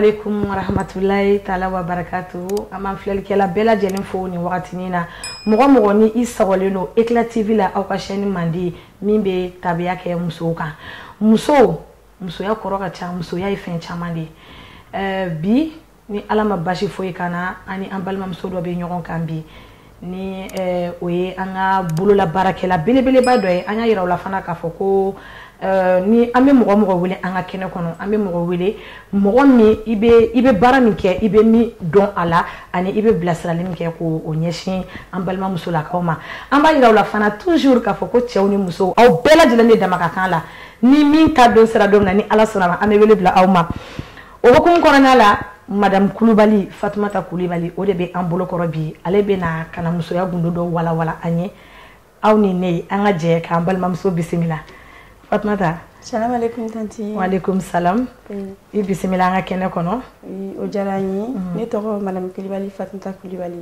alaikum warahmatulahi taala wa barakatu an b'an filɛlikɛla bɛɛ lajɛlen fo nin wagatinin na mɔgɔ mɔgɔ ni i sɔgɔlen don eclat tv la aw ka chaîne mandi min bɛ tabiya kɛ musow kan musow musoya kɔrɔ ka ca musoya ye fɛn caman de ye bi ni ala ma basi foyi ka na an ni an balimamuso dɔ bɛ ɲɔgɔn kan bi ni o ye an ka bolola baarakɛla belebeleba dɔ ye an y'a yira la fana k'a fɔ ko ni an bɛ mɔgɔ mɔgɔ wele an ka kɛnɛ kɔnɔ an bɛ mɔgɔ wele mɔgɔ min i bɛ baara min kɛ i bɛ min dɔn a la ani i bɛ bilasirali min kɛ k'o o ɲɛsin an balimamusolakaw ma an b'a yira la fana toujours k'a fɔ ko cɛw ni musow aw bɛɛ lajɛlen de dama ka kan la ni min ta don sera don min na ni ala sɔnna ma an bɛ wele bila aw ma o hukumu kɔnɔna la madame kulubali fatumata kulubali o de bɛ an bolokɔrɔ bi ale bɛna ka na musoya gundo dɔ walawala an ye aw ni ne an ka jɛ k'an balimamuso bisimila fatumata salamu aleykum tanti waaleykum salam i bisimila an ka kɛnɛ kɔnɔ o diyara n ye ne tɔgɔ madame kulubali fatumata kulubali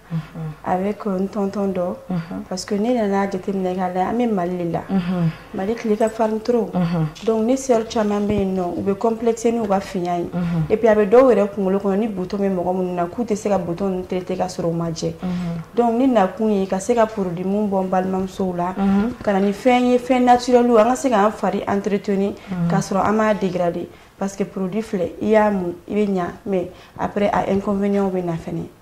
avec n tonton dɔ parce que ne nana jateminɛ k'a lajɛ an bɛ mali de la mali tile ka farin trop donc ne sœur caman bɛ yen nɔ u bɛ complexer n'u ka finya ye et puis a bɛ dɔw yɛrɛ kunkolo kɔnɔ ni bouton bɛ mɔgɔ minnu na k'u tɛ se ka bouton ninnu traiter ka sɔrɔ u ma jɛ donc ne nakun ye ka se ka produit mun bɔ n balimamusow la ka na ni fɛn ye fɛn naturel an ka se k'an fari entretenir ka sɔrɔ an m'a dégrader parce que produit filɛ i y'a mun i bɛ ɲa mais après a inconvénients bɛ na fɛnɛ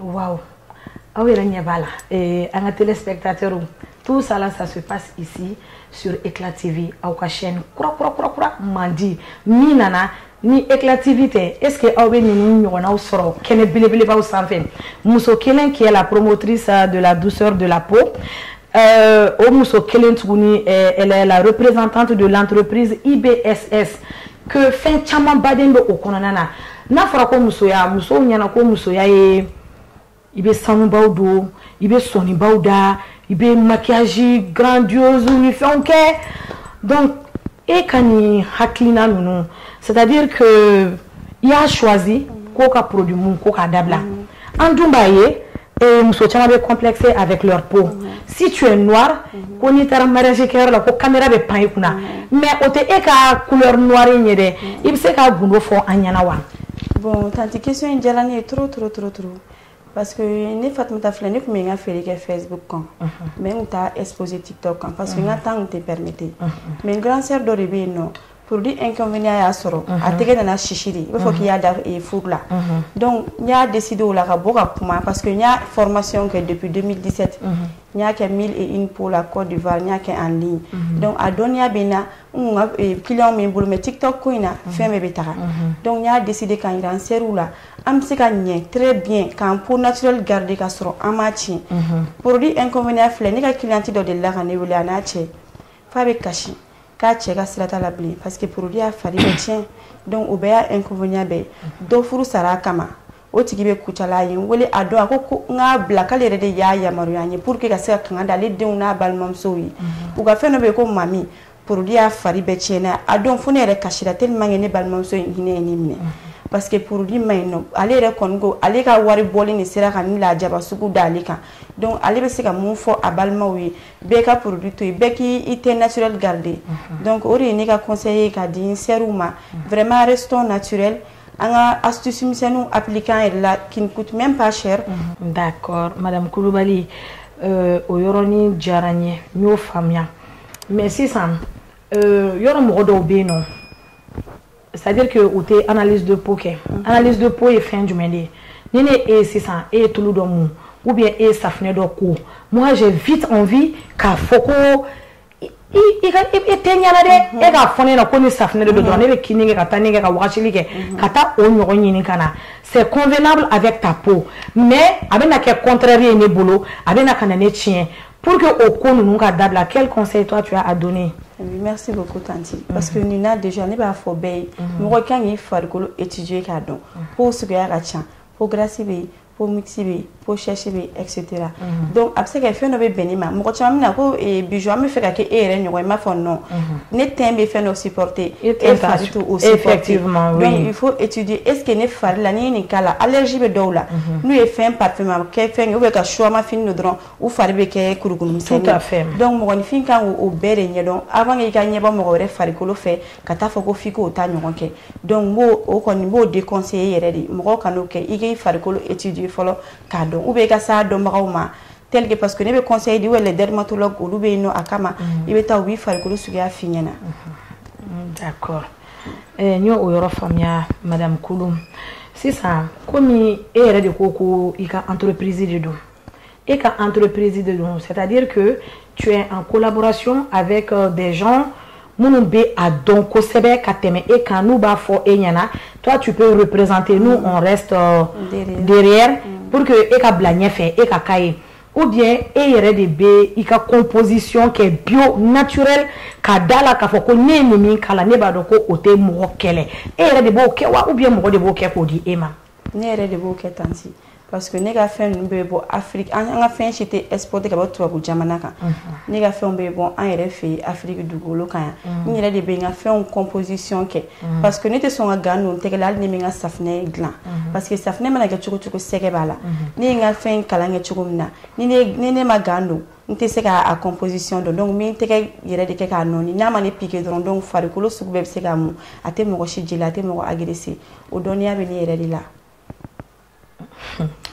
Waouh aw yɛrɛ ɲɛ b'a la eh, an ka téléspectateurs tout ça là ça se passe ici sur Eclat TV aw ka chaîne kura kura kura kura mandi min nana ni Eclat TV tɛ est ce que aw bɛ ninnu ɲɔgɔnnaw sɔrɔ kɛnɛ belebelebaw sanfɛ muso kelen qui est la promotrice de la douceur de la peau euh, o muso kelen tuguni euh, elle est la représentante de l'entreprise IBSS que fɛn camanba de bɛ o kɔnɔna na n'a fɔra ko musoya musow ɲɛna ko musoya ye i bɛ sanubaw don i bɛ sɔnibaw da i bɛ maquillage grandiose ni fɛnw kɛ donc e ka nin hakilina ninnu c'est à dire que i y'a choisi ko ka produit mun ko k'a dabila an dun b'a ye Ee muso caman bɛ kɔnplɛkɛ a bɛ kiyɔrɔ to si tu nwa ko n'i taara msi kɛyɔrɔ la ko kami bɛ pan i kunna mɛ o tɛ e ka kuwa in ye dɛ i bɛ se ka gdo fɔ an ɲɛna wa bon tante ke in diyara n ye to t t t parce que ne fa tun ta filɛ ne tun bɛ n ka feere kɛ fɛbu kan mɛ n taa espzsi tɛ tɔ kan pa que n ka taa tɛ pɛmete mɛ n gansɛ dɔ de bɛ yen nɔ Pdi e y'a sɔrɔ a tɛgɛ nana sisi de b'a fɔ k' y'a da furu la n y'a de de o la ka bɔ ka kuma pa que n y'a fmasi kɛ depdisɛte n y'a kɛ mi ko la kɔ difa n y'a kɛ an den dɔnku a dɔnniya bɛ na ki min bolo mɛ tita ko in na fɛn bɛɛ bɛ taga dɔnku y'a de de ka jiraran seriw la an bɛ se ka ɲɛ tire bi k'an ko nali garidi ka sɔrɔ an ma tiɲɛ porodi e filɛ ne ka kiti dɔ de la ka ne wele a n'a cɛ fa bɛ kasi k'a cɛ ka sira t'a la bilen parce que produit y'a fari bɛɛ tiɲɛ donc o bɛɛ y'a inconvénient bɛɛ ye dɔ furu sara a kama o tigi bɛ Kucala a ye n wele a dɔn a ko ko n k'a bila k'ale yɛrɛ de y'a yamaruya n ye pour que ka se ka kanga da ale denw n'a balimamusow ye u ka fɛn dɔ bɛ yen ko mami produit y'a fari bɛɛ tiɲɛ n'a a dɔn fo ne yɛrɛ kasira tellement que ne balimamuso in hinɛ ye ne minɛ parce que produit man ɲi nɔ ale yɛrɛ kɔni ko ale ka wari bɔli nin sera ka nin lajaba sugu da ale kan donc ale bɛ se ka mun fɔ a balimaw ye bɛɛ ka produit to yen bɛɛ k'i teint naturel garder donc o de ye ne ka conseil ye ka di n sœurs ma vraiment restons naturel an ka astuce misɛnninw appliquer an yɛrɛ la qui ne coûte même pas cher d'accord madame Kulubali euh, o yɔrɔnin diyara n ye n y'o faamuya mais sisan euh, yɔrɔ mɔgɔ dɔw bɛ yen nɔ c'est à dire que u tɛ analyse de peau kɛ analyse de peau ye fɛn jumɛn de ye ni ne e ye sisan e ye tulu dɔ mun ou bien e ye safinɛ dɔ ko moi j'ai vite envie k'a fɔ ko i ka e teint ɲɛna dɛ mhm. e k'a fɔ ne ɲɛna ko ni safinɛ de don dɔrɔn mhm. ne bɛ kini kɛ ka taa ne kɛ ka wagasili kɛ mhm. ka taa o ɲɔgɔn ɲini ka na c'est convenable avec ta peau mais a bɛna kɛ contraire ye ne bolo a bɛna ka na ne tiɲɛ pour que o ko ninnu ka dabila quel conseil toi tu as à donner Oui, merci beaucoup Tanti. Parce que nin na déjà ne b'a fɔ bɛɛ ye mɔgɔ kan k'i farikolo étudier k'a dɔn peau suguya ka ca peau grasse bɛ yen peau mixte bɛ yen peau sèche bɛ yen etc. donc a bɛ se ka fɛn dɔ bɛ bɛn ne ma mɔgɔ caman bɛ na ko eh, Bijou an bɛ fɛ ka kɛ e yɛrɛ ɲɔgɔn ye n b'a fɔ non ne teint bɛ fɛn dɔ supporter e teint e ta fari t'o supporter Effectivement, oui. donc il faut étudier est ce que ne fari la n'i ye nin k'a la allergie bɛ dɔw la n'u ye fɛn parfum kɛ fɛn kɛ ou bien ka suwama fini don dɔrɔn u fari bɛ kɛ kurukuru misɛnnin ye, tout à fait, donc mɔgɔninfin ka kan k'o bɛɛ de ɲɛdɔn avant que i ka ɲɛbɔ mɔgɔ wɛrɛ farikolo fɛ ka taa fɔ ko f'i k'o ta ɲɔgɔn kɛ donc n b'o o kɔni n b'o déconseiller yɛrɛ de mɔgɔw kan'o kɛ i k'i farikolo étudier fɔlɔ k'a dɔn ou bien i ka s'a dɔnbagaw ma tel que parce que ne bɛ conseil di ou bien les dermatologues olu bɛ yen nɔ a kama i bɛ taa u b'i farikolo suguya f'i ɲɛna. d'accord eh, n y'o o yɔrɔ faamuya madame Kulu sisan komi e yɛrɛ de ko ko i ka entreprise de don. e ka entreprise de don. C'est-à-dire que tu es en collaboration avec euh, des gens minnu bɛ a dɔn kosɛbɛ ka tɛmɛ e kan n'u b'a fɔ e ɲɛna toi tu peux représenter nous on reste euh, derrière, derrière mm. pour que e ka bila ɲɛfɛ e ka k'a ye ou bien e yɛrɛ de bɛ i ka composition kɛ bio naturel ka da la k'a fɔ ko ne ye nin min k'a la ne b'a dɔn ko o tɛ mɔgɔ kɛlɛ e yɛrɛ de b'o kɛ wa ou bien mɔgɔ de b'o kɛ k'o di e ma. ne yɛrɛ de b'o kɛ tanti. parce que ne ka fɛn ninnu bɛ bɔ afiriki an ka fɛn si tɛ exporter ka bɔ tubabu jamana kan ne ka fɛnw bɛ bɔ an yɛrɛ fɛ yen afiriki dugukolo kan yan n yɛrɛ de bɛ n ka fɛnw composition kɛ parce que ne tɛ sɔn ka gan don n tɛgɛ la hali ne bɛ n ka safinɛ dilan parce que safinɛ mana kɛ cogo cogo sɛgɛ b'a la ne ye n ka fɛn kalan kɛ cogo min na ni ne ma gan don n tɛ se k'a composition dɔn donc n bɛ n tɛgɛ yɛrɛ de kɛ k'a nɔɔni n'a ma ne piqué dɔrɔn donc farikolo sugu bɛɛ bɛ se k'a mun a tɛ mɔgɔ si jeli a tɛ mɔgɔ agresser o dɔnniya bɛ ne yɛrɛ de la.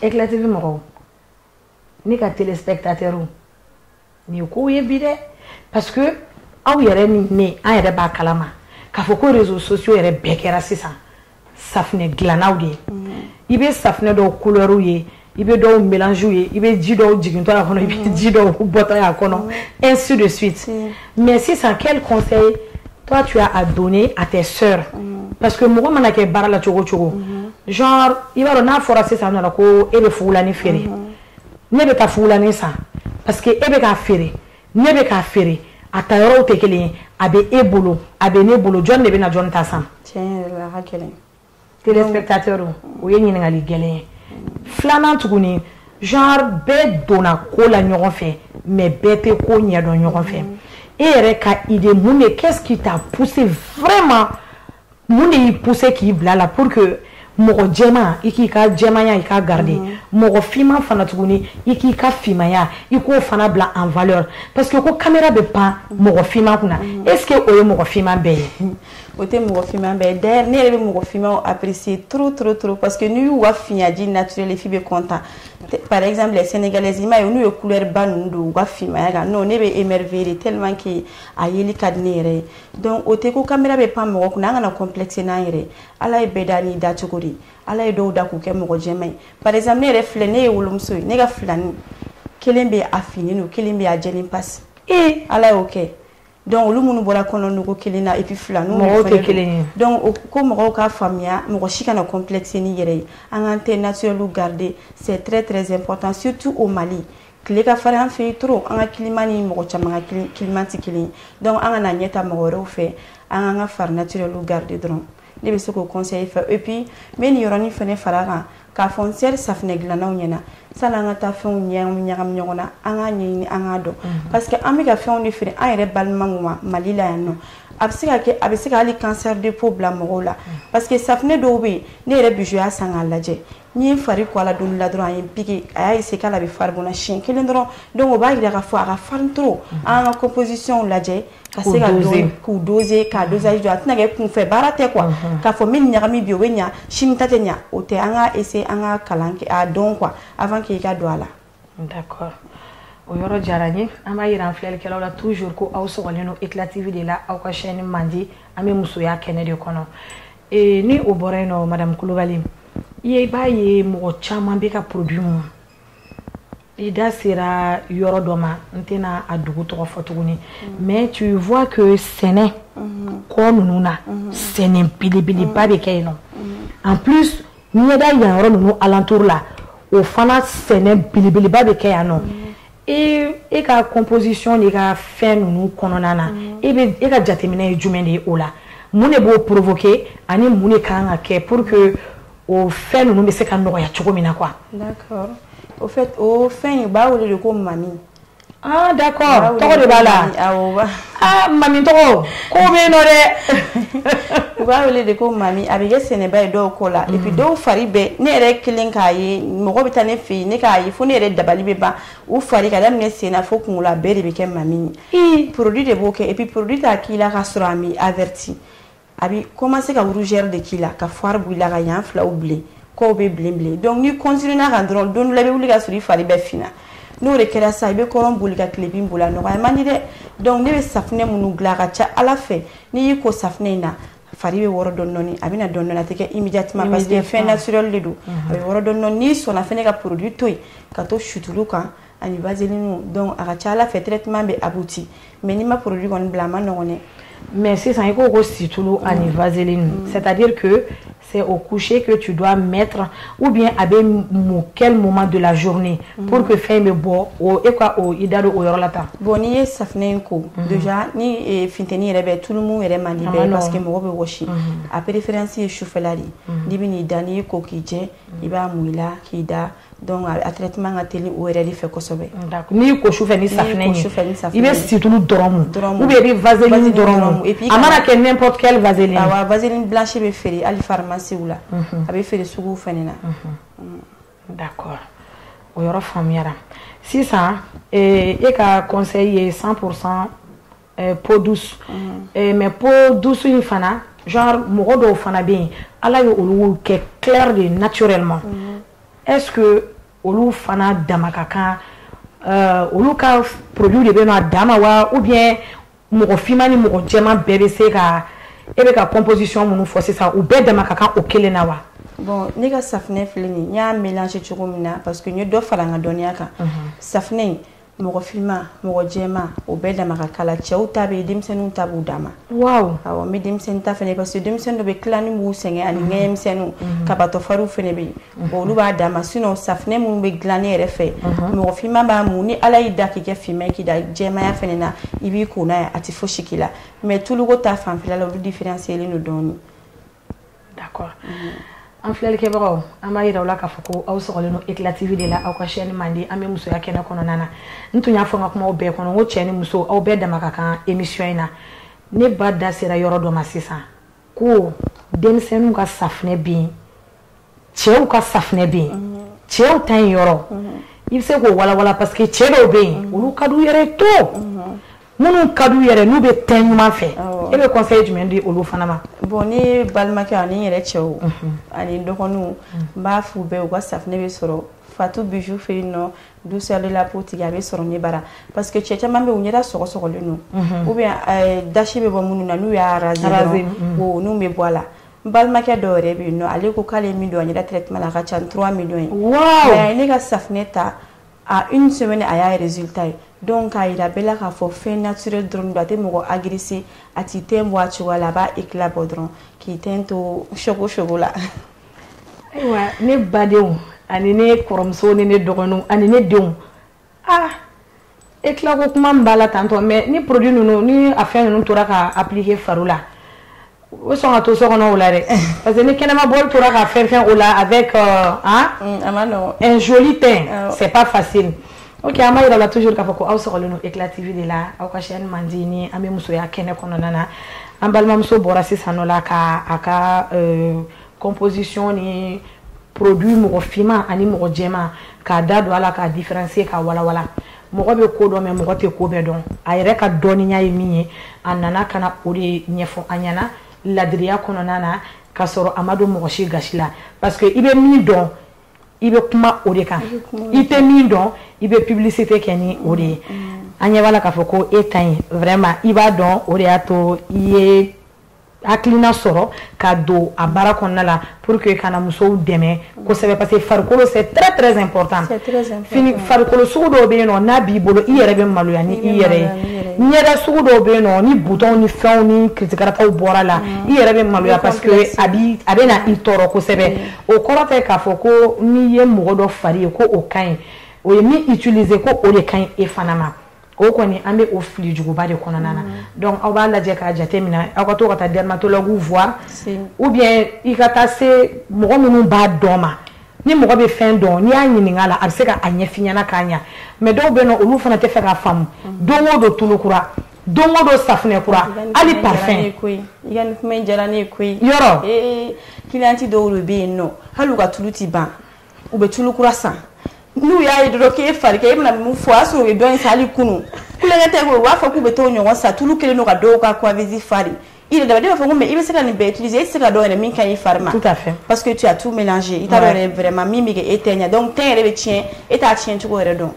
Eclat TV mɔgɔw ne ka téléspectateurs nin ye kow ye bi dɛ parce que aw yɛrɛ ni ne an yɛrɛ b'a kalama k'a fɔ ko réseaux sociaux yɛrɛ bɛɛ kɛra sisan safinɛ dilannaw de ye mm. i bɛ safinɛ dɔw couleurs ye i bɛ dɔw mélanges ye i bɛ ji dɔw jigintɔ a kɔnɔ i bɛ ji dɔw bɔtɔ a kɔnɔ mm. ainsi de suite mm. mais sisan quel conseil toi tu as à donner à tes sœurs mm. parce que mɔgɔ mana kɛ baara la cogo cogo mm-hmm. genre i b'a dɔn n'a fɔra sisan nɔ la ko e bɛ fugulani feere mm-hmm. ne bɛ taa fugulani san parce que e bɛ k'a feere ne bɛ k'a feere a ta yɔrɔw tɛ kelen ye a bɛ e bolo a bɛ ne bolo jɔn de bɛ na jɔn ta san. tiɲɛ yɛrɛ la a ka gɛlɛn. Téléspectateurs o ye ɲininkali gɛlɛn ye, filanan tuguni genre bɛɛ donna ko la ɲɔgɔn fɛ mais bɛɛ tɛ ko ɲɛdɔn ɲɔgɔn fɛ, e yɛrɛ ka idée mun de qu'est-ce qui t'a poussé vraiment mun de y'i poussé k'i bila a la pour que mɔgɔ jɛman i k'i ka jɛmanya i k'a garder mɔgɔ finman fana tuguni i k'i ka finmaya i k'o fana bila en valeur parce que ko caméra bɛ pan mɔgɔ finman kunna est-ce que o ye mɔgɔ finman bɛɛ ye o tɛ mɔgɔ finma bɛɛ ye dɛ ne yɛrɛ bɛ mɔgɔ finmaw apprécier trop trop trop parce que n'i y'u ka finyaji naturel ye f'i bɛ content par exemple les sénégalaises i m'a ye n'u ye couleur ba ninnu don u ka finmaya kan non ne bɛ émerveiller de tellement que a yeli ka di ne yɛrɛ ye donc o tɛ ko kamera bɛ pan mɔgɔ kunna an kana complexer n'an yɛrɛ ye ala ye bɛɛ da n'i dacogo de ye ala ye dɔw da k'u kɛ mɔgɔ jɛma ye par exemple ne yɛrɛ filɛ ne ye wolomuso ye ne ka filani kelen bɛ a finnen don kelen bɛ a jɛlen pasi ee ala y'o kɛ donc olu minnu bɔra kɔnɔnugu kelen na et puis filaniw mɔgɔw tɛ kelen ye donc ko mɔgɔw ka faamuya mɔgɔ si kana complexer n'i yɛrɛ ye an k'an teint naturel garder c'est très très important surtout au Mali tile ka fari an fɛ yen trop an ka climat ni mɔgɔ caman ka climat tɛ kelen donc an kana ɲɛ ta mɔgɔ wɛrɛw fɛ an k'an ka fari naturel garder dɔrɔn ne bɛ se k'o conseil fɛ et puis n bɛ nin yɔrɔnin fɛnɛ fara a kan k'a fɔ n sɛrɛ safinɛ dilannaw ɲɛna sani an ka taa fɛnw ɲagami ɲagami ɲɔgɔn na an k'a ɲɛɲini an k'a dɔn mhm. parce que an bɛ ka fɛnw de feere an yɛrɛ balimaw ma Mali la yan nɔ a bɛ se ka kɛ a bɛ se ka hali cancer de peau bila mɔgɔw la mhm. parce que safinɛ dɔw bɛ yen ne yɛrɛ bi y'a san k'a lajɛ n ye fari ko a la don la dɔrɔn a ye n piquer a y'a essayer k'ale bɛ fari bɔ n na siɲɛ kelen dɔrɔn donc o b'a yira k'a fɔ a ka farin trop an ka composition lajɛ ka se ka dɔn k'u doser k'a dosage dɔn a tɛna kɛ kunfɛ baara tɛ quoi k'a fɔ min ɲagami bi o bɛ ɲa sini ta tɛ ɲa o tɛ an ka essayer an ka kalan k'a dɔn quoi avant que i ka don a la d'accord o yɔrɔ diyara n ye an b'a yira an filɛlikɛlaw la toujours ko aw sɔgɔlen don eclat tv de la aw ka chaîne mandi an bɛ musoya kɛnɛ de kɔnɔ ee ni o bɔra yen nɔ madame kulubali i ye i b'a ye mɔgɔ caman bɛ ka produit mun i da sera yɔrɔ dɔ ma n tɛna a dugu tɔgɔ fɔ tuguni mm. mais tu vois que sɛnɛ mm-hmm. kɔ ninnu na mm-hmm. sɛnɛ belebeleba bɛ kɛ yen nɔ mm-hmm. en plus ɲɛda yan yɔrɔ ninnu alentour la o fana sɛnɛ belebeleba bɛ kɛ yan nɔ e e ka composition n'e ka fɛn ninnu kɔnɔna na e bɛ e ka jateminɛ ye jumɛn de ye o la mun de b'o provoquer ani mun de kan ka kɛ pour que o fɛn ninnu bɛ se ka nɔgɔya cogo min na quoi d'accord au fait o fɛn in u b'a wele de ko mami Aa d'accord tɔgɔ de b'a la mami tɔgɔ ko bɛ yen nɔ dɛ u b'a wele de ko mami a bɛ kɛ sɛnɛba ye dɔw kɔ la et puis dɔw fari bɛɛ ne yɛrɛ kelen k'a ye mɔgɔ bɛ taa ne fɛ yen ne k'a ye fo ne yɛrɛ dabali bɛ ban u fari ka daminɛ sen na fo kun bɛɛ de bɛ kɛ mami ye produit de b'o kɛ et puis produit t'a k'i la ka sɔrɔ a m'i avertir a bɛ commencer ka rougeur de k'i la ka fari bɔ i la ka yan filaw bilen kɔw bɛ bilen bilen donc n'i continuer n'a kan dɔrɔn don dɔ la i bɛ wuli ka sɔrɔ i fari bɛɛ finna n'o de kɛra sisan i bɛ kɔrɔn boli ka tilebin boli a nɔgɔya man di dɛ donc ne bɛ safinɛ minnu dilan a ka ca Ala fɛ n'i y'i ko safinɛ in na fari bɛ wɔrɔ dɔɔni dɔɔni a bɛ na dɔɔni dɔɔni a tɛ kɛ immédiatement parce que fɛn naturel de don a bɛ wɔrɔ dɔɔni dɔɔni n'i sɔnna fana ka produit to yen ka to situlu kan ani vaseline donc a ka ca Ala fɛ traitement bɛ abouti mais n'i ma produit kɔni bila a man nɔgɔn dɛ mais sisan i ko ko situlu ani mm. vaseline mm. c'est à dire que c'est au coucher que tu dois mettre ou bien a bɛ mun quel moment de la journée mm. pour que fɛn bɛ bɔ o e ka o i da don o yɔrɔ la tan bon n'i ye safinɛ in ko déjà ni e, funteni yɛrɛ bɛ tulu mun yɛrɛ man di bɛrɛ parce que mɔgɔ bɛ wɔsi a préférence ye sufɛla de ye n'i bɛ n'i da n'i y'i ko k'i jɛ i b'a mun i la k'i da donc a traitement ka teli o yɛrɛ de fɛ kosɛbɛ n'i y'i ko su fɛ ni safinɛ ye i bɛ situlu dɔrɔn mun ou bien i bɛ vaseline dɔrɔn mun a mana kɛ n'importe quelle vaseline awɔ vaseline blanche bɛ feere hali pharmacie la a bɛ feere suguw fɛnɛ na d'accord o yɔrɔ faamuyara sisan e ka conseil ye 100% eh, peau douce mm. eh, mais peau douce in fana genre mɔgɔ dɔw fana bɛ yen ala ye olu kɛ clair de naturellement mm. est ce que olu fana dama ka kan euh, olu ka produit de bɛ na a dama wa ou bien mɔgɔ finma ni mɔgɔ jɛman bɛɛ bɛ se ka e bɛ ka composition minnu fɔ sisan u bɛɛ dama ka kan o kelen na wa bon ne ka safinɛ filɛ nin n y'a mélanger cogo min na parce que n ye dɔ fara n ka dɔnniya kan safinɛ in mɔgɔ finma mɔgɔ jɛma o bɛɛ dama ka kan a la cɛw ta bɛ yen denmisɛnninw ta b'u dama waaw awɔ n bɛ denmisɛnnin ta fana parce que denmisɛnnin dɔw bɛ tilani b'u sɛgɛn ani mhm. ŋɛɲɛmisɛnninw mhm. kabatɔfariw fana bɛ yen mhm. olu b'a dama sinon safinɛ minnu bɛ dilan ne yɛrɛ fɛ mɔgɔ finma b'a mun ni ala y'i da k'i kɛ finma k'i da jɛmaya fana na i b'i ko n'a ye a tɛ fosi k'i la mais tuluko ta fanfɛla la olu différencierlen don dɔɔnin an filɛlikɛbagaw an b'a yira aw la k'a fɔ ko aw sɔgɔlen don Eclat TV de la aw ka chaîne mandi an bɛ musoya kɛnɛ kɔnɔna na n tun y'a fɔ n ka kumaw bɛɛ kɔnɔ n ko cɛ ni muso aw bɛɛ dama ka kan émission in na ne ba da sera yɔrɔ dɔ ma sisan ko denmisɛnninw ka safinɛ bɛ yen cɛw ka safunɛ bɛ yen mhm. cɛw ta in yɔrɔ mhm. i bɛ se k'o walawala parce que cɛ dɔw bɛ yen mhm. olu ka d'u yɛrɛ ye to minnu ka d'u yɛrɛ n'u bɛ teint ɲuman fɛ e bɛ conseil jumɛn di olu fana ma. bon ne balimakɛ ani n yɛrɛ cɛw ani n dɔgɔninw n b'a f'u bɛɛ u ka safunɛ bɛ sɔrɔ Fatou Bijou fɛ yen nɔ douceur de la peau tigi a bɛ sɔrɔ ne bara parce que cɛ caman bɛ yen u ɲɛda sɔgɔsɔgɔlen don ou bien dasi bɛ bɔ minnu na n'u y'a raser dɔrɔn wo n'u bɛ bɔ a la. n balimakɛ dɔ yɛrɛ bɛ yen nɔ ale ko k'ale ye min don a ɲɛda traitement la a ka ca ni 3 millions ye waaw mais a ye ne ka safinɛ ta à une semaine a y'a résultat ye donc k'a jira bɛɛ la k'a fɔ fɛn naturel dɔrɔn don a tɛ mɔgɔ agresser a t'i teint bɔ a cogoya la a b'a éclat bɔ dɔrɔn k'i teint to choco choco la ayiwa ne badenw ani ne kɔrɔmuso ni ne dɔgɔninw ani ne denw ah éclat ko kuma min b'a la tantɔ mais ni produit ninnu ni a fɛn ninnu tora ka appliquer fari la o sɔn ka to so kɔnɔ o la dɛ parce que ni kɛnɛma bɔli tora ka fɛn fɛn o la avec euh, hein, mm, a man nɔgɔn un joli teint ah c'est pas facile ok an b'a yira aw la toujours k'a fɔ ko aw sɔgɔlen don éclat tv de la aw ka chaîne mandi ni an bɛ musoya kɛnɛ kɔnɔna na an balimamuso bɔra sisan nɔ la ka a ka euh, composition ni produit mɔgɔ finman ani mɔgɔ jɛman k'a da don a la k'a différencier k'a walawala mɔgɔ bɛ ko dɔn mais mɔgɔ tɛ ko bɛɛ dɔn a yɛrɛ ka dɔnniya ye min ye a nana ka na o de ɲɛfɔ an ɲɛna ladiriya kɔnɔna na ka sɔrɔ a ma don mɔgɔ si gasi la parce que i bɛ min dɔn i bɛ kuma o de kan i tɛ min dɔn i bɛ publicité kɛ ni o de ye an ɲɛ b'a la k'a fɔ ko e ta in vraiment i b'a dɔn o de y'a to i ye hakilina sɔrɔ ka don a baara kɔnɔna la pour que ka na musow dɛmɛ kosɛbɛ parce que farikolo c'est très très important fini farikolo sugu dɔw bɛ yen nɔ n'a b'i bolo i yɛrɛ bɛ maloya ni i yɛrɛ ye ɲɛda sugu dɔw bɛ yen nɔ ni butɔnw ni fɛnw ni kirikarataw bɔra a la mm. i yɛrɛ bɛ maloya parce que a bi a bɛ na i tɔɔrɔ kosɛbɛ mm. o kɔrɔ tɛ k'a fɔ ko n'i ye mɔgɔ dɔ fari ye ko o ka ɲi o ye min utiliser ko o de ka ɲi e fana ma o kɔni an bɛ o fili juguba de kɔnɔna na mm-hmm. donc aw b'a lajɛ k'a jate minɛ aw ka to ka taa dermatologue voir ou bien i ka taa se mɔgɔ minnu b'a dɔn ma ni mɔgɔ bɛ fɛn dɔn n'i y'a ɲininka la a bɛ se ka a ɲɛf'i ɲɛna k'a ɲa mais dɔw bɛ yen nɔ olu fana tɛ fɛ k'a faamu mm-hmm. don o don tulu kura don o don safunɛ kura hali parfum i ka nin kuma in diyara ne ye koyi yɔrɔ cliente dɔw de bɛ yen nɔ hali u ka tulu tɛ ban u bɛ tulu kura san n'u y'a ye dɔrɔn k'e fari kɛ e bɛna mun fɔ o y'a sɔrɔ u ye dɔ in san hali kunun tulonkɛ tɛ koyi u b'a fɔ k'u bɛ t'o ɲɔgɔn san tulu kɛlen don ka dɔw ka coiffeuse fari i yɛrɛ dama ne b'a fɔ ko mais i bɛ se ka nin bɛɛ utiliser e tɛ se ka dɔn yɛrɛ min ka ɲi i fari ma tout à fait parce que tu as tout mélangé i t'a dɔn yɛrɛ vraiment min bɛ kɛ e teint ɲɛ donc teint yɛrɛ bɛ tiɲɛ e t'a tiɲɛ cogo yɛrɛ dɔn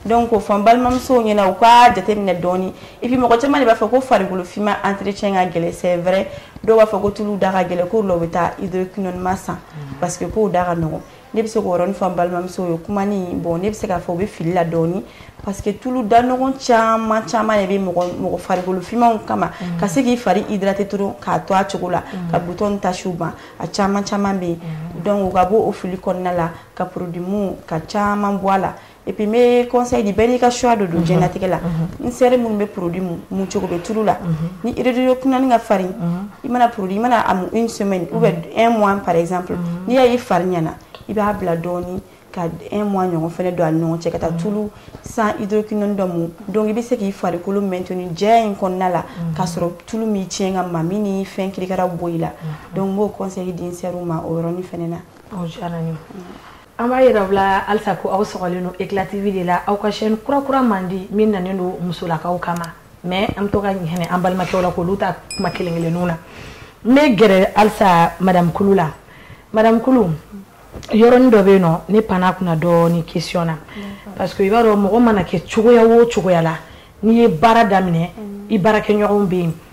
donc k'o fɔ n balimamusow ɲɛna u ka jateminɛ dɔɔni et puis mɔgɔ caman de b'a fɔ ko farikolo finman entretien ka gɛlɛn c'est vrai dɔw b'a fɔ ko tulu da ka gɛlɛn k'o la u bɛ taa hydroquinonima san mm. parce que k'o da ka nɔgɔn ne bɛ se k'o yɔrɔnin fɔ n balimamusow ye kuma ni bon ne bɛ se k'a fɔ u bɛ fili la dɔɔni parce que tulu da nɔgɔn caman caman de bɛ mɔgɔ mɔgɔ farikolo finmanw kama mm. ka se k'i fari hydrater dɔrɔn k'a to a cogo la mm. ka butɔn ni tasiw ban a caman caman bɛ yen donc u ka bɔ o fili kɔnɔna la ka produit mun ka caman bɔ a la Et puis n bɛ conseil di bɛɛ n'i ka choix de don diɲɛlatigɛ la n sœur minnu bɛ produit mun mun cogo bɛ tulu la ni hydroquinone ka farin i mana produit i mana a mun une semaine ou bien un mois par exemple n'i y'a ye i fari ɲɛna i b'a bila dɔɔnin ka un mois ɲɔgɔn fana don a ni ɲɔgɔn cɛ ka taa tulu sans hydroquinone dɔ mun donc i bɛ se k'i farikolo maintenir jɛya in kɔnɔna la k'a sɔrɔ tulu m'i tiɲɛ ka mami ni fɛn kirikaraw bɔ i la donc n b'o conseil di n sœurw ma o yɔrɔnin fana na. O diyara n ye. An b'a yira aw la halisa ko aw sɔgɔlen don Eclat TV de la, aw ka chaîne kura kura mandi min nanen don musolakaw kama mais an bɛ to ka hinɛ an balimakɛw la k'olu ta kuma kelen kelenninw na. N bɛ gɛrɛ halisa madame Kulu la, madame Kulu yɔrɔnin dɔ bɛ yen nɔ ne panna a kunna dɔɔnin question na parce que i b'a dɔn mɔgɔ mana kɛ cogoya o cogoya la n'i ye baara daminɛ i baarakɛɲɔgɔnw bɛ yen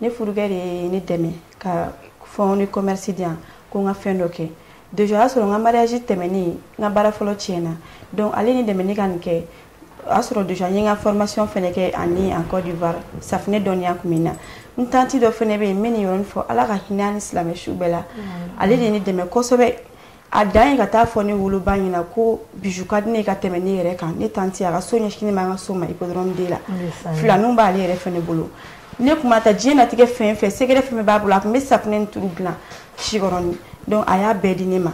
ne furukɛ de ye ne dɛmɛ ka fonds de commerce di yan ko n ka fɛn dɔ kɛ déjà o y'a sɔrɔ n ka mariage tɛmɛnen n ka baara fɔlɔ tiɲɛna donc ale ni dɛmɛ ne ka nin kɛ o y'a sɔrɔ déjà n ye n ka formation fɛnɛ kɛ ani en Côte d'Ivoire safinɛ dɔnniya tun bɛ n na n tanti dɔ fɛnɛ bɛ yen n bɛ nin yɔrɔni fɔ Ala ka hinɛ a ni silamɛ su bɛɛ la ale de ye ne dɛmɛ kosɛbɛ a dan ye ka taa fɔ ne woloba ɲɛna ko bijou ka di ne ye ka tɛmɛ ne yɛrɛ kan ne tanti a ka so ɲɛsinnen b'an ka so ma hippodrome de la filaninw b'ale yɛrɛ fɛnɛ bolo ne kun ma taa diɲɛnatigɛ fɛn fɛn sɛgɛrɛ fɛn bɛɛ b'a bolo a tun bɛ safunɛ ni tulu dilan sikɔrɔni donc a y'a bɛɛ di ne ma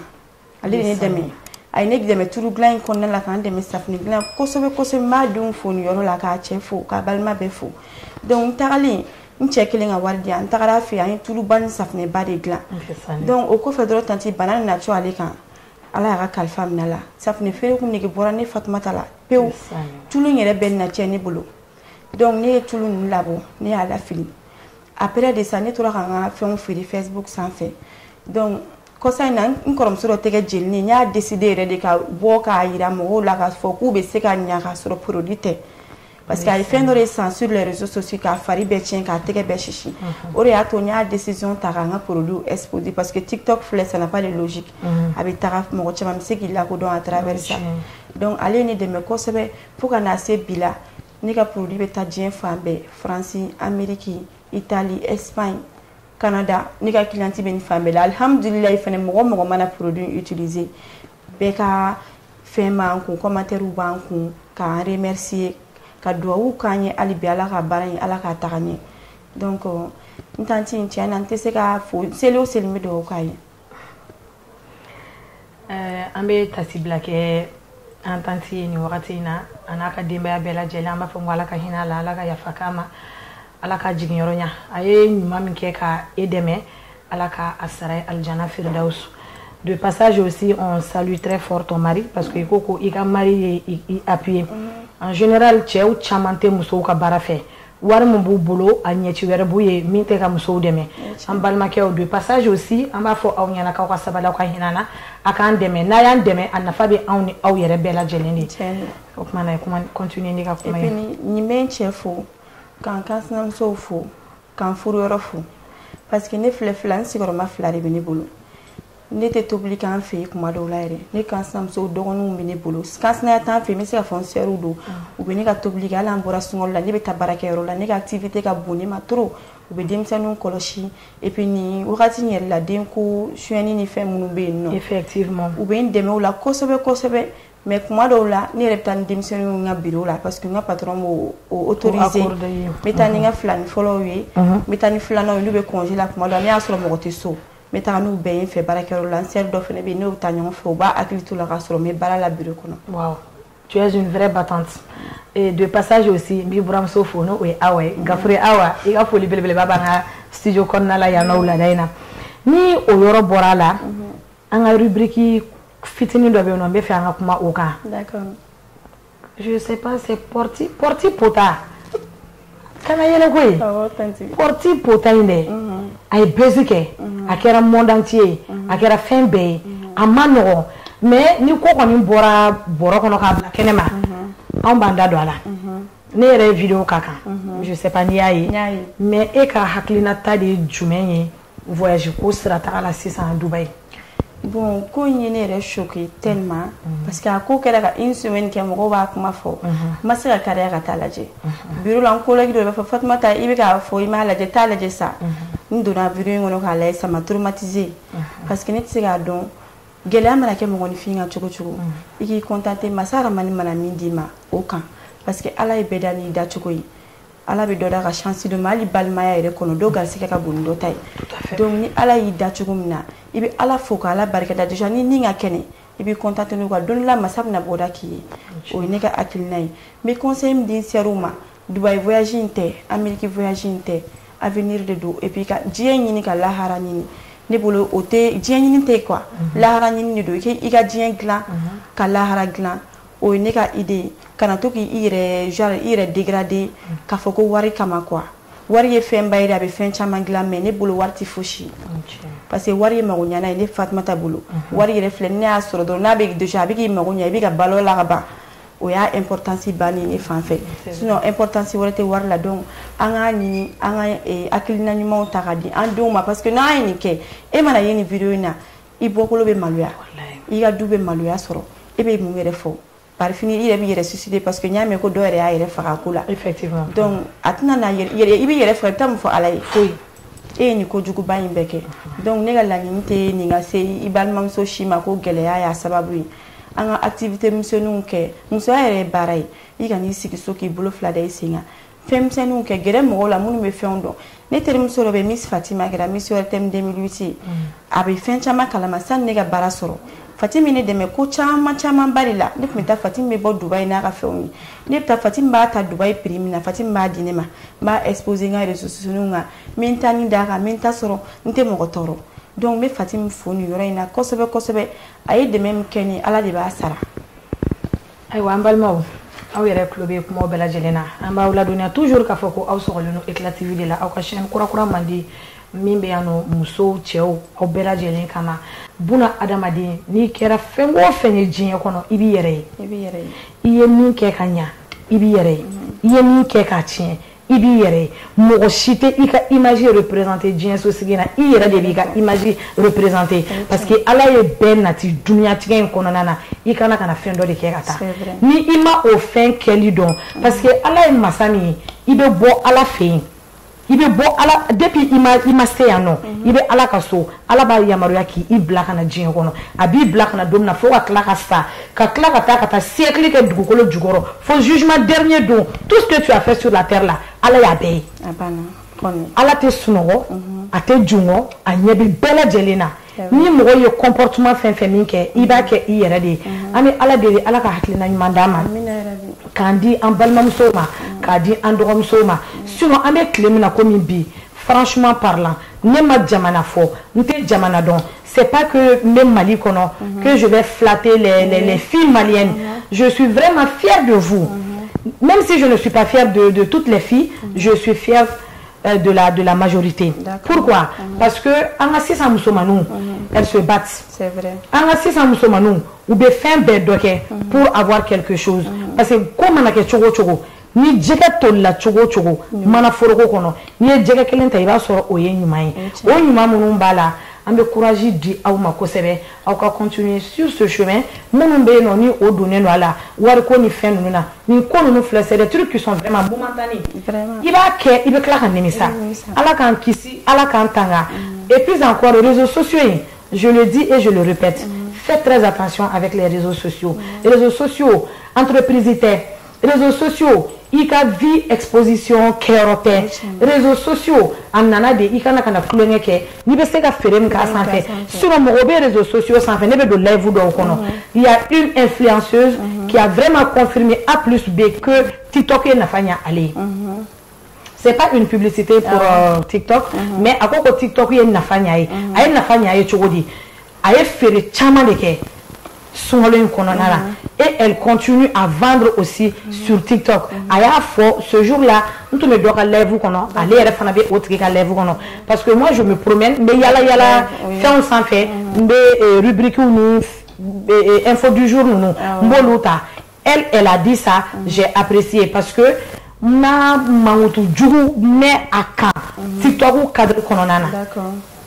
ale de ye ne dɛmɛ a ye ne dɛmɛ tulu dilan in kɔnɔna la ka n dɛmɛ safunɛ dilan kosɛbɛ kosɛbɛ n b'a denw fo nin yɔrɔ la k'a cɛ fo k'a balima bɛɛ fo donc n tagalen n cɛ kɛlen ka wari di an tagara a fɛ yen an ye tuluba ni safinɛba de dilan donc o kɔfɛ dɔrɔn tanti bana nana cun ale kan ala y'a ka kalifa minɛ a la safinɛ feere kun nege bɔra ne fatumata la pewu tulu in yɛrɛ bɛɛ na cɛn ne bolo donc ne ye tulu ninnu labɔ ne y'a lafili après de ça ne tora ka n ka fɛnw feere facebook sanfɛ donc kɔsa in na n kɔrɔmuso dɔ tɛgɛ jeninen n y'a décider yɛrɛ de ka bɔ k'a yira mɔgɔw la k'a fɔ k'u bɛ se ka ɲa k'a sɔrɔ produit tɛ Parce que a ye fɛn dɔ de san sur les réseaux sociaux k'a fari bɛɛ tiɲɛ k'a tɛgɛ bɛɛ sisi o de y'a to n y'a décision ta ka n ka produits exposer parce que TikTok filɛ ça n'a pas de logique a bɛ taga mɔgɔ caman bɛ se k'i lakodɔn à travers ça donc ale ye ne dɛmɛ kosɛbɛ fo ka na se bi la ne ka produit bɛ taa diɲɛ fan bɛɛ France Amérique Italie Espagne Canada ne ka cliente bɛ nin fan bɛɛ la alihamudulilayi fana mɔgɔ o mɔgɔ mana produit utiliser bɛɛ ka fɛn b'an kun commentairew b'an kun ka n remercier ka duwawu kɛ n ye hali bi ala ka baara in ala k'a taga ɲɛ donc n tanti in tiɲɛ na n tɛ se k'a fo seli o seli n bɛ duwawu k'a ye eh, an bɛ tasi bila kɛ an tanti ye nin wagati in na a n'a ka denbaya bɛɛ lajɛlen an b'a fɔ ko ala ka hinɛ a la ala ka yafa k'a ma ala ka jiginyɔrɔ ɲa a ye ɲuman min kɛ ka e dɛmɛ Ala ka a sara ye alijana firidawusu de passage aussi on salue très fort ton mari parce que i ko ko i ka mari ye i appuyer mm-hmm. en général cɛw caman tɛ musow ka baara fɛ wari min b'u bolo a ɲɛci wɛrɛ b'u ye min tɛ ka musow dɛmɛ an balimakɛw de passage aussi an b'a fɔ aw ɲɛna k'aw ka sabali aw ka hinɛ an na a k'an dɛmɛ n'a y'an dɛmɛ a nafa bɛ anw ni aw yɛrɛ bɛɛ lajɛlen de o tuma na kuma continuer n'i ka kuma ye ne bɛ n cɛ fo ka n kansinamusow fo ka n furuyɔrɔ fo parce que ne filɛ filani sigiyɔrɔma fila de bɛ ne bolo ne tɛ tobili k'an fɛ yen kuma dɔw la yɛrɛ ne kansinamuso dɔgɔninw bɛ ne bolo kansinaya t'an fɛ yen n bɛ se ka fɔ n sœurw don u bɛ ne ka tobili kɛ hali an bɔra sunkalo la ne bɛ taa baarakɛyɔrɔ la ne ka activité ka bon ne ma trop u bɛ denmisɛnninw kɔlɔsi et puis nin wagati in yɛrɛ la denko suyɛnni ni fɛn minnu bɛ yen nɔ effectivement u bɛ n dɛmɛ o la kosɛbɛ kosɛbɛ mais kuma dɔw la ne yɛrɛ bɛ taa ni denmisɛnninw ka biro la parce que n ka patron b'o autoriser n bɛ taa ni n ka filani fɔlɔw ye n bɛ taa ni filananw ye n'u bɛ congé la kuma dɔw la n'a y'a sɔrɔ mɔgɔ tɛ so n bɛ taa n'u bɛɛ ye n fɛ baarakɛyɔrɔ la n sœur dɔ fana bɛ yen n'o bɛ taa ɲɔgɔn fɛ o b'a hakili to u la k'a sɔrɔ n bɛ baara la biro kɔnɔ. waaw tu es une vraie battante et de passage aussi n b'i buramuso fo n'o ye Awa ye Gafure Awa i ka foli belebeleba b'an ka studio kɔnɔna la yan nɔ wulada in na ni o yɔrɔ bɔra a la. an ka rubrique fitinin dɔ bɛ yen nɔ n bɛ fɛ an ka kuma o kan. d'accord. je sais pas c'est porte porte pota kana yɛlɛ ko ye. awɔ tanti. porte pota in dɛ. Mhm. a ye buzz kɛ. Mhm. a kɛra monde entier ye. Mhm. a kɛra fɛn bɛɛ ye. a man nɔgɔn mais ni ko kɔni bɔra bɔrɔ kɔnɔ k'a bila kɛnɛ ma. anw b'an da don a la. ne yɛrɛ ye video k'a kan. je sais pas n'i y'a ye. n y'a ye. mais e ka hakilinata de ye jumɛn ye. voyage ko sira taga la sisan dubayi bon ko in ye ne yɛrɛ choqué tellement mhm. parce que a ko kɛra ka une semaine kɛ mɔgɔw b'a kuma fɔ n mhm. ma se ka kariya ka taa lajɛ mhm. bureau la n collègue dɔ b'a fɔ fatumata i bɛ k'a fɔ i m'a lajɛ taa lajɛ sa n donna bureau in kɔnɔ k'a lajɛ ça m'a traumatisé parce que ne tɛ se k'a dɔn gɛlɛya mana kɛ mɔgɔninfin kan cogo cogo i k'i contenter masa rahamani mana min d'i ma o kan parce que ala ye bɛɛ da n'i dacogo ye ala bɛ dɔ da ka chance dɔ ma hali balimaya yɛrɛ kɔnɔ dɔ garisigɛ ka bon ni dɔ ta ye donc ni ala y'i da cogo min na i bɛ ala fo ka ala barika da déjà ni n'i ka kɛnɛ i b'i contenter n'o kan don dɔ la masa bɛna bɔda k'i ye o ye ne ka hakilina ye n bɛ conseil min di n sœurs ma dubayi voyage in tɛ ameriki voyage in tɛ avenir de don et puis ka diɲɛ ɲini ka lahara ɲini ne bolo o tɛ diɲɛ ɲini tɛ quoi mhm. lahara ɲini de don i ka diɲɛ dilan mhm. ka lahara dilan o ye ne ka idée ye kana to k'i yɛrɛ genre i yɛrɛ dégrader k'a fɔ ko wari kama quoi wari ye fɛnba ye dɛ a bɛ fɛn caman dilan mais ne bolo wari tɛ fosi parce que wari ye magoɲana ye ne Fatumata bolo mhm. wari yɛrɛ filɛ ne y'a sɔrɔ dɔrɔn n'a bɛ déjà a bɛ k'i mago ɲa i bɛ ka balo la ka ban o y'a importance bannen ne fan fɛ sinon importance wɛrɛ tɛ wari la donc an k'a ɲini an ka eh, hakilina ɲumanw ta ka di an denw ma parce que n'an ye nin kɛ e mana ye nin video in na i bɔkolo bɛ maloya i ka du bɛ maloya sɔrɔ e bɛ mun yɛrɛ fɔ par fini i yɛrɛ bɛ yɛrɛ suicider parce que n y'a mɛn ko dɔ yɛrɛ y'a yɛrɛ faga ko la donc a tɛna i bɛ yɛrɛ faga i bɛ taa mun fɔ ala ye foyi e ye nin kojuguba in bɛɛ kɛ donc ne ka laɲini tɛ nin ka se i balimamuso si ma ko gɛlɛya y'a sababu ye an ka activité misɛnninw kɛ musoya yɛrɛ ye baara ye i kan'i sigi so k'i bolo fila da i sen kan fɛn misɛnninw kɛ gɛrɛ mɔgɔw la minnu bɛ fɛnw dɔn ne terimuso dɔ bɛ miss fatima kɛra miss ORTM 2008 a bɛ fɛn caman kalama sani ne ka baara sɔrɔ fatimi ne dɛmɛ ko caman camanba de la ne tun bɛ taa fatimi bɛ bɔ dubayi n'a ka fɛnw ye ne bɛ taa fatimi b'a ta dubayi prix min na fatimi b'a di ne ma n b'a exposer n ka réseaux sociaux kan n bɛ n tanin d'a kan n bɛ n ta sɔrɔ n tɛ mɔgɔ tɔɔrɔ donc n bɛ fatimi fo nin yɔrɔ in na kosɛbɛ kosɛbɛ a ye dɛmɛ min kɛ n ye ala de b'a sara ayiwa an balimaw aw yɛrɛ tulo bɛ kumaw bɛɛ lajɛlen na an b'aw ladɔnniya toujours k'a fɔ ko aw sɔgɔlen don eclat tv de la aw ka chaîne kurakura mandi min bɛ yan nɔ musow cɛw aw bɛɛ lajɛlen kama buna adamaden n'i kɛra fɛn o fɛn ye diɲɛ kɔnɔ i b'i yɛrɛ ye i ye min kɛ ka ɲa i b'i yɛrɛ ye i ye min kɛ k'a tiɲɛ i b'i yɛrɛ ye mɔgɔ si tɛ i ka image représenter diɲɛ sosigi na i yɛrɛ de b'i ka image représenter parce que ala ye bɛɛ nati duniyatigɛ in kɔnɔna na i ka na ka na fɛn dɔ de kɛ ka taa ni i ma o fɛn kɛli dɔn parce que ala ye masa min ye i bɛ bɔ ala fɛ yen i bɛ bɔ ala depuis i ma i ma se yan nɔ i bɛ ala ka so ala b'a yamaruya k'i i bila ka na diɲɛ kɔnɔ a b'i bila ka na don min na fo ka tila ka sa ka tila ka taa ka taa siècle kɛ dugukolo jukɔrɔ fo jugement dernier don tout ce que tu as fait sur la terre la ala y'a bɛɛ ye ala tɛ sunɔgɔ mhm. a tɛ jingɔn a ɲɛ bɛ bɛɛ lajɛlen na ni mɔgɔ ye comportement fɛn fɛn min kɛ i b'a kɛ i yɛrɛ de ye mhm. an bɛ ala deli ala ka hakilina ɲuman d'an ma k'a di an balimamusow ma mhm. k'a di an dɔgɔmusow ma sinon an bɛ tile min na komi bi franchement parlant ne ma jamana fɔ n tɛ jamana dɔn c'est pas que n bɛ mali kɔnɔ mhm. que je vais flatter les, les, les filles maliennes mhm. je suis vraiment fière de vous mhm. même si je ne suis pas fière de, de toutes les filles je suis fière euh, de la de la majorité. Pourquoi Parce que an ka sisan musomaninw elles se battent. C'est vrai. An ka sisan musomaninw u bɛ fɛn bɛɛ dɔ kɛ pour avoir quelque chose parce que ko mana kɛ cogo o cogo Ni jɛgɛ to la cogo o cogo mana foroko kɔnɔ n'i ye jɛgɛ kelen ta i b'a sɔrɔ o ye ɲuman ye o ɲuman minnu b'a la an bɛ kuranji di aw ma kosɛbɛ aw ka kun ye su somɛ minnu bɛ yen ni o donnen don a la wari ko ni fɛn ninnu na ni ko ninnu filɛ sɛɛrɛ ki kisɔnma i b'a kɛ i bɛ tila ka nimisa ala k'an kisi ala k'an tanga e pz kɔrɔrezo soso in zodi e zoppte fɛnprez kati a bɛ kire soso rezo soso anppirizi tɛ réseaux sociaux i ka vie exposition kɛyɔrɔ tɛ réseaux sociaux a nana de i kana kana tulonkɛ kɛ n'i bɛ se ka feere min k'a sanfɛ sinon mɔgɔ bɛ réseaux sociaux sanfɛ ne bɛ don live dɔw kɔnɔ il y a une influenceuse qui a vraiment confirmé a plus b que tiktok ye nafa ɲɛ ale ye c'est pas une publicité pour ah euh, TikTok mm -hmm. mais a ko ko TikTok ye nafa ɲ'a ye mhm. a ye nafa ɲ'a ye cogo di a ye feere caman de kɛ sunkalo in kɔnɔna la mhm. et elle continue à vendre aussi mhm. sur TikTok a y'a fɔ ce jour là n tun bɛ dɔ ka live kɔnɔ ale yɛrɛ fana bɛ o tigi ka live kɔnɔ parce que moi je me promène n bɛ yala yala fɛnw sanfɛ n bɛ euh, rubriques ni euh, info du jour ninnu ah n b'olu ta elle elle a dit ça mm. j'ai apprécié parce que n'a mankutu jugu mɛn a kan mm. tiktok cadre kɔnɔna na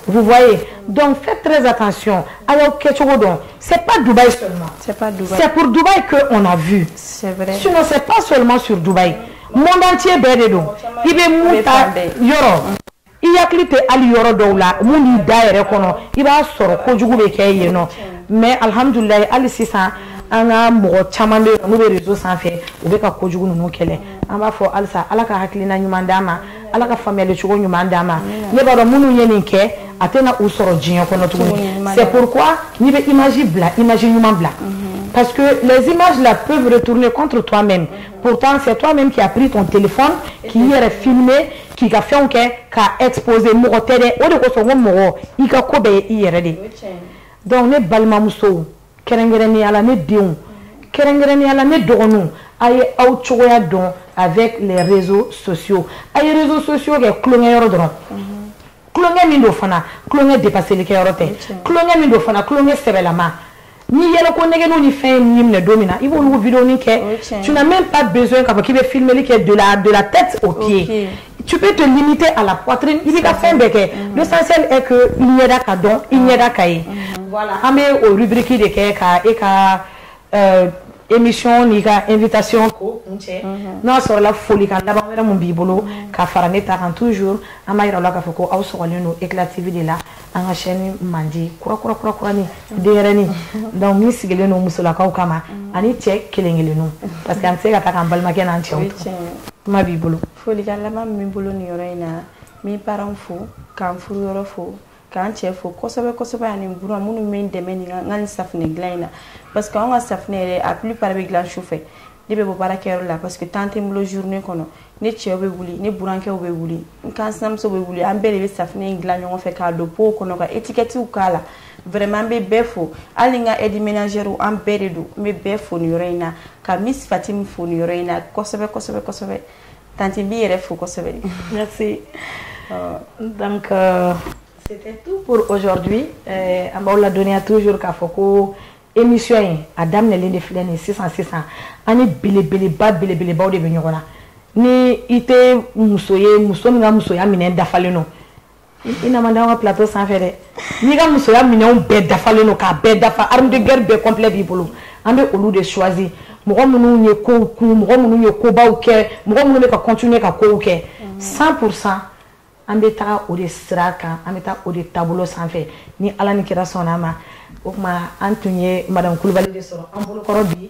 vous voyez donc faites très attention a y'aw kɛcogo dɔn c'est pas Dubaï seulement c'est pas Dubaï c'est pour Dubaï que on a vu c'est vrai sinon c'est pas seulement sur Dubaï monde entier bɛɛ de don i bɛ mun ta yɔrɔ i hakili tɛ hali yɔrɔ dɔw la mun b'i da yɛrɛ kɔnɔ i b'a sɔrɔ kojugu bɛ kɛ yen nɔ mais alhamdulilayi hali sisan an ka mɔgɔ caman bɛ yen n'u bɛ réseau sanfɛ u bɛ ka kojugu ninnu kɛlɛ an b'a fɔ halisa ala ka hakilina ɲuman d'an ma ala ka faamuyali cogo ɲuman d'an ma ne b'a dɔn minnu ye nin kɛ a tɛna u sɔrɔ diɲɛ kɔnɔ tuguni c'est pourquoi n'i bɛ image bila image ɲuman bila mhm. parce que les images là peuvent retourner contre toi-même pourtant c'est toi-même qui a pris ton téléphone k'i yɛrɛ filmer k'i ka fɛnw kɛ k'a exposer mɔgɔ tɛ dɛ o de kosɔn ko mɔgɔ i ka ko bɛɛ ye i yɛrɛ de ye donc ne balimamusow kɛrɛnkɛrɛnnenya la ne denw kɛrɛnkɛrɛnnenya la ne dɔgɔninw a ye aw cogoya dɔn avec les réseaux sociaux a ye réseaux sociaux kɛ tulonkɛyɔrɔ dɔrɔn tulonkɛ min don fana tulonkɛ dépasseli kɛyɔrɔ tɛ tulonkɛ min don fana tulonkɛ sɛbɛlama ni yɛlɛko nɛgɛw ni fɛn min minɛ don min na i b'olu vidéoni kɛ tu n'as même pas besoin k'a fɔ k'i bɛ filmeli kɛ de la de la tête aux pieds tu peux te limiter à la poitrine i b'i ka fɛn bɛɛ kɛ l'essentiel est que i ɲɛda ka dɔn i ɲɛda ka ye voilà an bɛ o rubrique de kɛ ka e ka Euh, émission n'i ka invitation ko kuncɛ mhm. n'a sɔrɔla folikan laban wɛrɛ mun b'i bolo mhm. ka fara ne ta kan toujours an b'a yira aw la k'a fɔ ko aw sɔgɔlen don Eclat TV de la an ka chaîne mandi kura kura kura kurani mhm. denyɛrɛni donc min sigilen don musolakaw kama ani cɛ kelen kelenninw parce que an tɛ se ka taa k'an balimakɛ n'an cɛw to kuma b'i bolo folikan laban min b'i bolo nin yɔrɔ in na n bɛ parents fo ka n furuyɔrɔ fo ka n cɛ fo kosɛbɛ kosɛbɛ ani buran minnu bɛ n dɛmɛ nin ka nin safinɛ dilan in na parce que anw ka safinɛ yɛrɛ a plupart bɛ dilan su fɛ ne bɛ bɔ baarakɛyɔrɔ la parce que temps tɛ n bolo journée kɔnɔ ne cɛw bɛ wuli ne burankɛw bɛ wuli n kansinamuso bɛ wuli an bɛɛ de bɛ safinɛ in dilan ɲɔgɔn fɛ k'a don pow kɔnɔ ka étiquettew k'a la vraiment an bɛ bɛɛ fo hali n ka aide ménagère an bɛɛ de don n bɛ bɛɛ fo nin yɔrɔ in na ka Miss Fatimi fo nin yɔrɔ in na kosɛbɛ kosɛbɛ kosɛbɛ Tanti n b'i yɛrɛ fo kosɛbɛ merci euh, donc euh, c'était tout pour aujourd'hui euh, an b'aw ladɔnniya toujours k'a fɔ ko émission in a daminɛlen de filɛ nin sisan sisan an ni belebeleba belebelebaw de bɛ ɲɔgɔn na ni i tɛ muso ye muso min ka musoya minɛn dafalen don i na man di an ka plateau sanfɛ dɛ n'i ka musoya minɛnw bɛɛ dafalen don k'a bɛɛ dafa arme de guerre bɛɛ complet b'i bolo an bɛ olu de choisir mɔgɔ minnu ye kow kun mɔgɔ minnu ye kobaw kɛ mɔgɔ minnu bɛ ka continuer ka kow kɛ 100 pour cent an bɛ taga o de sira kan an bɛ taa o de taabolo sanfɛ ni ala ni kira sɔnna a ma o tuma an tun ye madame Kulubali de sɔrɔ an bolokɔrɔ bi